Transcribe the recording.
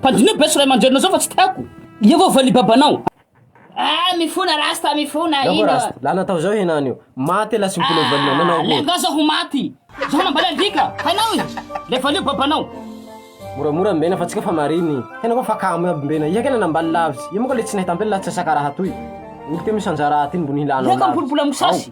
Mpandinio beso ray aman-drenina zao fa tsy tiako. Iehovah ny babanao. Ah mifona rasta mifona ino ah. Lana tao zao henany io. Maty elah sy mbola ho valina nanao akory. Leh nga zao ho maty. Zao nambala alika. Hainao e. Le valio babanao. Moramora mbena fa tsika fa mariny. Tena koa fa kamo iaby mbena. Iha kena nambaly lavitsy. Iha moa ka le tsy nahita ampela latsasaka raha toy. Olo teo misanjara aty ny mbony hilana lavitsy. Iha ka mipolopolo amiko sasy.